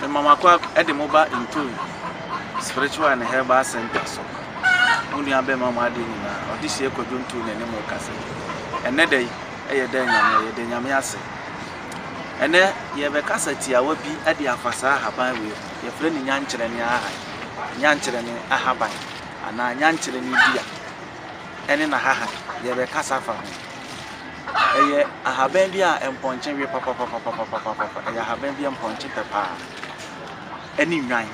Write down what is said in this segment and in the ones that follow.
Mema mo akɔ de mo ba Ntui Spiritual and Herbal Center so. Mo nua bɛma mo adeɛ nyinaa. Ɔde sie kwadwo ntuu na ɛne mo kasa. Ɛnɛ da yi ɛyɛ dɛ nyame yɛde nyame ase. Ɛnɛ yɛbɛkasa tiawa bi de afa saa ahaban wei ho. Yɛfrɛ ne nyankyerɛ ne ahan. Nyankyerɛ ne ahaban anaa nyankyerɛ ne dua ɛne n'ahahan yɛbɛkasa fa ho. Ɛyɛ ahaban bi a mpɔnkye we papapapapapapapapa. Ɛyɛ ahaban bi a mpɔnkye pɛ paa, ɛne nnwan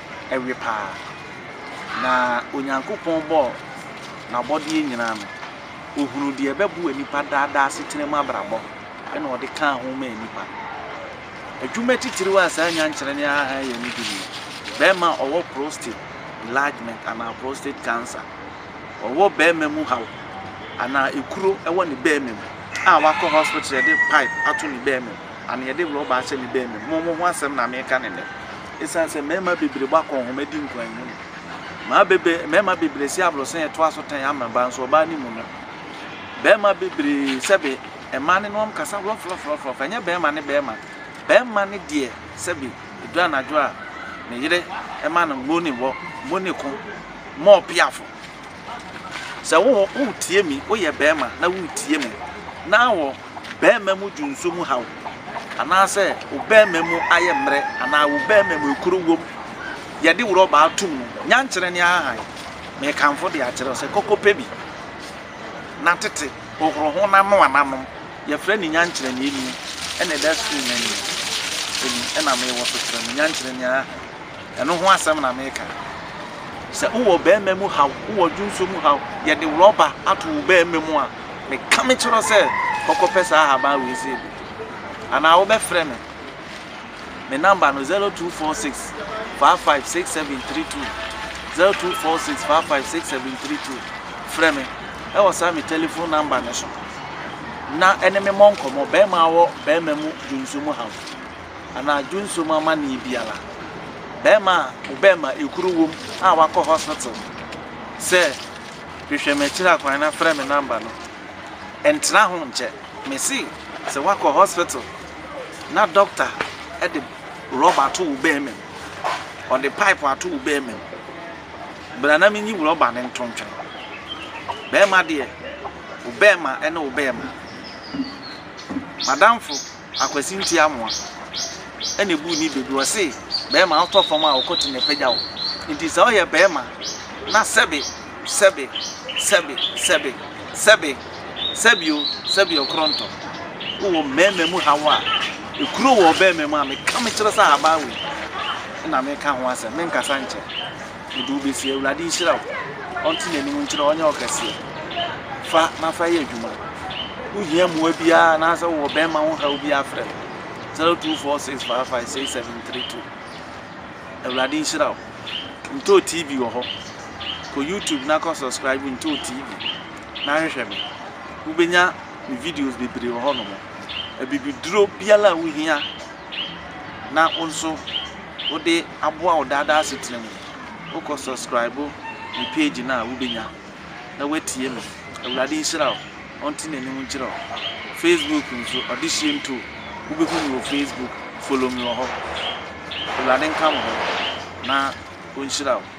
we paa. Na Onyankopɔn bɔɔ n'abɔdeɛ nyinaa no, ɔhunuu deɛ ɛbɛboa nnipa daa daa asetena mu abrabɔ, ɛna ɔde kaa ho maa nnipa. Adwuma titiriw a saa nyankyerɛ no ara yɛ no bi nie, Barima a ɔwɔ prostate enlargement anaa prostate cancer, ɔwɔ barima mu haw anaa ekuro wɔ ne barima mu a wakɔ hospital yɛde pipe ato ne barima mu anaa yɛde rɔba ahyɛ ne barima mu mo ho asɛm na meka ne nnɛ ɛsiane sɛ mmarima bebree bɔ akɔnhoma di nkwan mu no maa bebe mmarima bebree si aborɔsan yɛ to aso tan ama ba nso ɔbaa ne mu no barima bebree sɛbe mmaa ne nom kasa worɔforɔforɔforɔ ɛnyɛ barima ne barima barima ne deɛ sɛbe ɛdu anadwo a ne yere ɛma no mo ne wɔ mo ne ko more piafo sɛ wo hɔ wo tie mi wo yɛ bɛɛma na wo tie mi na wɔ bɛɛma mu dwunso mu haw anaa sɛ wo bɛɛma mu ayɛ mmerɛ anaa wo bɛɛma mu ekuro wom yɛ de worɔ baa tum no nyankyerɛ ne ahahan me kanfo de akyerɛ sɛ kɔkɔ pɛ bi na tete ohoro ho na noa na nom yɛ frɛ ne nyankyerɛ ne eni ɛna ɛda screen na ni ɛni ɛna me wɔ so kyerɛ me nyankyerɛ ne ahahan Ɛno ho asɛm na meka. Sɛ wowɔ ɔbarima mu haw, wowɔ adwonsɔ mu haw, yɛde rɔba ato wo barima mu a, meka mekyerɛ wo sɛ kɔkɔpɛ saa ahaban wei sei bi. Anaa wobɛfrɛ me. Me namba no 0246 556732, 0246 556732. Frɛ me wɔ saa me telefon namba no so na ɛne me mmɔ nkɔmmɔ, barima a ɔwɔ barima mu dwonsɔ mu haw. anaa dwonsɔ mu amanneɛ biara. Barima a wo bɛmma ekuru wom a wakɔ hospital sɛ hwehwɛ me akyiri akwan na frɛ me number no, ɛntena ho nkyɛ. Mese sɛ wakɔ hospital na doctor de rɔba ato wo bɛmma mu, ɔde pipe ato wo bɛmma mu, bra na menyi rɔba no nto ntwene. Barima deɛ, wo bɛmma ne wo bɛmma. M'adamfo. Akwasinti Amoah na ebuu ne bedu, ɔse bɛɛma ɔtɔ fam a ɔkɔ ti na ɛpagya wo, nti sɛ ɔyɛ bɛɛma na sɛbe, sɛbe, sɛbe, sɛbe, sɛbe, sɛbio, sɛbio korontɔ wowɔ mmɛɛma mu haw a ɛkuro wɔ ɔbɛɛma mu a meka mekyerɛ sɛ ahabaa wei na meka ho asɛm, menkasa nkyɛ Mede wo besi Awurade nhyira wo ɔnte nanim nkyerɛ wo ɔnyɛ wo kɛseɛ fa na fa yɛ adwuma wo hia mmoa biara anaasɛ wowɔ bɛrima ho haw biara frɛ me 0246556732 Awurade nhyira wo Ntoo TV wɔ hɔ kɔ YouTube na kɔ subscribe Ntoo TV na hwehwɛ me wobɛnya me videos bebree wɔ hɔ nom abibiduro biara a wo hia na wo nso wode aboa wo daadaa asetena mu. Wokɔ subscribe me page no a wobɛnya na woatie me. Awurade nhyira wo, ɔnte n'anim nkyerɛ wo. Facebook nso, Ɔdehyeɛ Nto, wobɛhu me wɔ Facebook, follow me wɔ hɔ. Awurade nka mo ho na ɔnhyira wo.